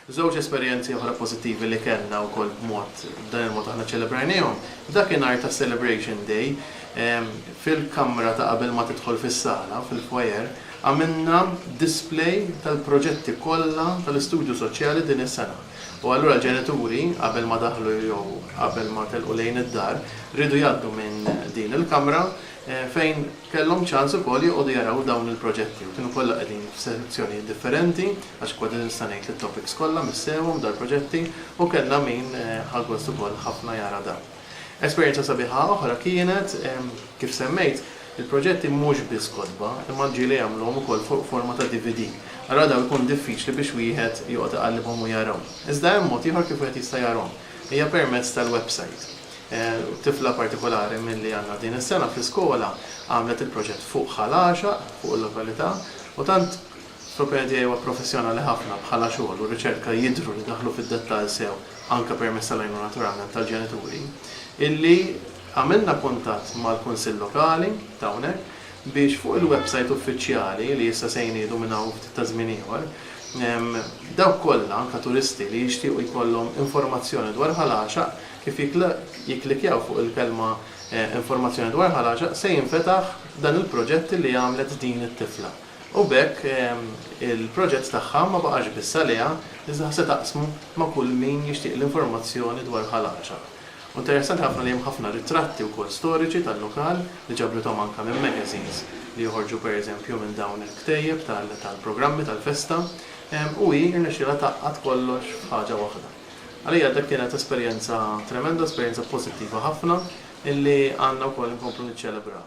Żewġ esperjenzi oħra pożittivi li kellna wkoll b'mod, b'dan il-mod aħna ċċelebrajniehom, f'dakinhar ta' Celebration Day, fil-kamra ta' qabel ma tidħol fis-sala, fil-foyer, għamilna display tal-proġetti kollha tal-Istudju Soċjali din is-sena. U allura l-ġenituri, qabel ma daħlu jew qabel ma telqu lejn id-dar, riedu jgħaddu minn din il-kamra, fejn kellhom ċans ukoll joqogħdu jaraw dawn il-proġetti u kienu kollha qegħdin f'sezzjonijiet differenti għax kważi nista' ngħid li t-topics kollha missewhom dal-proġetti u kellna min ħa gost ukoll ħafna jara dan. Esperjenza sabiħa oħra kienet, kif semmejt, il-proġetti mhux biss kotba imma l-ġieli għamluhom ukoll fuq forma ta' DVD. Allura dawn ikun diffiċli biex wieħed joqgħod iqallibhom u jarahom. Iżda hemm mod ieħor kif wieħed jista' jarahom. Hija permezz tal-websajt. Tifla partikolari milli għandna din is-sena fl-iskola għamlet il-proġett fuq Ħal Għaxaq, fuq il-lokalità, u tant l-opinjoni tiegħi huwa professjonali ħafna bħala xogħol u riċerka jidhru li daħlu fid-dettall sew anke permezz tal-għajnuna naturalment tal-ġenituri, illi għamilna kuntatt mal-Kunsill Lokali ta' hawnhekk biex fuq il-websajt uffiċjali, li issa se jniedu minn hawn u ftit ta' żmien ieħor, dawk kollha, anke turisti, li jixtiequ jkollhom informazzjoni dwar Ħal Għaxaq Kif jikklikkjaw fuq il-kelma Informazzjoni dwar ħaraġa se jinfetaħ dan il-proġett li għamlet din it-tifla u b'hekk il-proġett tagħha ma baqax biss għaliha iżda se taqsmu ma' kull min jixtieq l-informazzjoni dwar ħalaġa. U interessanti ħafna li hemm ħafna ritratti wkoll storiċi tal-lokal li ġabrithom anke minn magazines li joħorġu per eżempju minn dawn il-ktejjeb tal-programmi tal-festa u hi rnexxielha tgħaqqad kollox f'ħaġa waħda. Għalija dik kienet esperjenza tremenda, esperjenza pożittiva ħafna illi għandna wkoll inkomplu niċċelebraw.